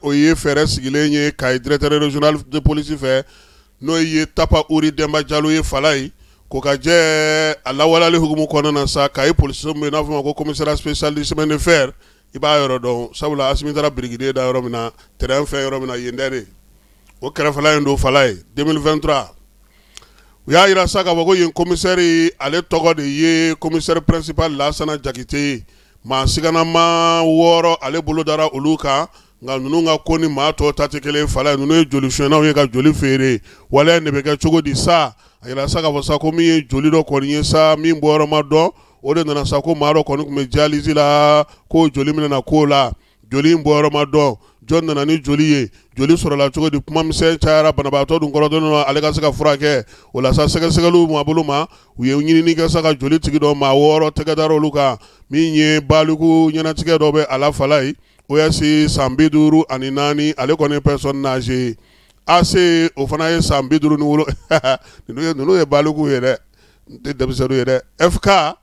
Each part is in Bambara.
o ye fɛɛrɛ sigilen ye kayi directeur régional de police fɛ n'o ye tapa uri denba jalo ye falayi ko ka jɛ a lawaleli hukumu kɔnɔna na sa kayi polisiso min n'a fɔ ma ko commissariat spécial du chemin de fer i b'a yɔrɔ dɔn sabula asimi taara birikiden da yɔrɔ min na tɛrɛn fɛn yɔrɔ min na yen dɛrɛ o kɛrɛfɛla in don falayi deux mille vingt-trois u y'a jira sa k'a fɔ ko yen kɔmisɛri ale tɔgɔ de ye commissaire principal lasana jakite ye Maa siganama wɔɔrɔ ale bolo dara olu kan nka ninnu ka ko ni maa tɔw ta tɛ kelen falayi ninnu ye joli suɲɛnaw ye ka joli feere waleya de bɛ kɛ cogo di sa a jira sa k'a fɔ sa ko min ye joli dɔ kɔni ye sa min bɔyɔrɔ ma dɔn o de nana sa ko maa dɔ kɔni tun bɛ dialyse la ko joli minɛna k'o la joli bɔyɔrɔ ma dɔn jɔn nana ni joli ye joli sɔrɔla cogo di kuma misɛn cayara banabaatɔ dun kɔrɔtɔlen don ale ka se ka furakɛ o la sa sɛgɛsɛgɛliw ma bolo ma u ye ɲinini kɛ sa ka joli tigi dɔn maa wɔɔrɔ tɛgɛ dara olu kan min ye baliku ɲɛnatigɛ dɔ bɛ a la falayi OS san bi duuru ani naani ale kɔni personne âgée AC o fana ye san bi duuru ni wolonwula ninnu ye baliku ye dɛ n tɛ denmisɛnninw ye dɛ ɛ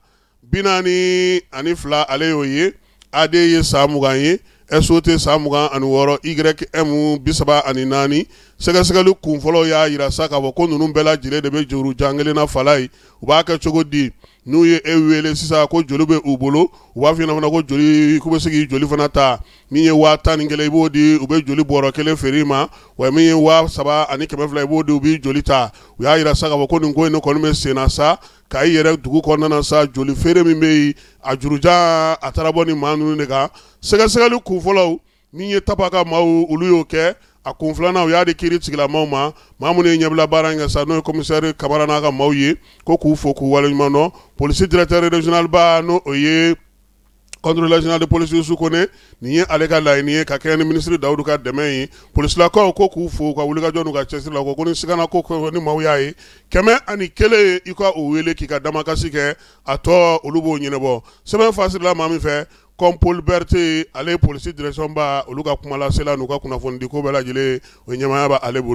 Bi naani ani fila ale y'o ye AD ye san mugan ye SOT san mugan ani wɔɔrɔ YM bi saba ani naani sɛgɛsɛgɛli kun fɔlɔ y'a jira sa k'a fɔ ko ninnu bɛɛ lajɛlen de bɛ juru jan kelen na falayi u b'a kɛ cogo di n'u ye e wele sisan ko joli bɛ u bolo u b'a fɔ fana ko joli k'u bɛ se k'i joli fana ta min ye waa tan ni kelen i b'o di u bɛ joli bɔrɔ kelen feere i ma wa min ye waa saba ani kɛmɛ fila i b'o di u b'i joli ta u y'a jira sa k'a fɔ ko nin ko in kɔni bɛ senna sa Kayi yɛrɛ dugu kɔnɔna sa joli feere min bɛ yen a jurujan a taara bɔ ni maa ninnu de kan sɛgɛsɛgɛli kun fɔlɔw min ye tapa ka maaw olu y'o kɛ a kun filanan u y'a di kiiri tigilamaw ma maa minnu ye ɲɛbila baara in kɛ sa n'o ye commissaire kamara n'a ka maaw ye ko k'u fo k'u waleɲuman dɔn polisi directeur régional ba n'o ye Contrôleur général de police yusu kɔnɛ nin ye ale ka laɲini ye ka kɛɲɛ ni minisiri dawudu ka dɛmɛ ye polisilakaw ko k'u fo ka wulikajɔ n'u ka cɛsiri la ko ni sigana ko ni maaw y'a ye kɛmɛ ani kelen i ka o wele k'i ka damakasi kɛ a tɔ olu b'o ɲɛnabɔ sɛbɛn fasarila maa min fɛ compol berete ale polisi direction ba olu ka kumalasela n'u ka kunnafonidi ko bɛɛ lajɛlen o ɲɛmaaya b'ale bolo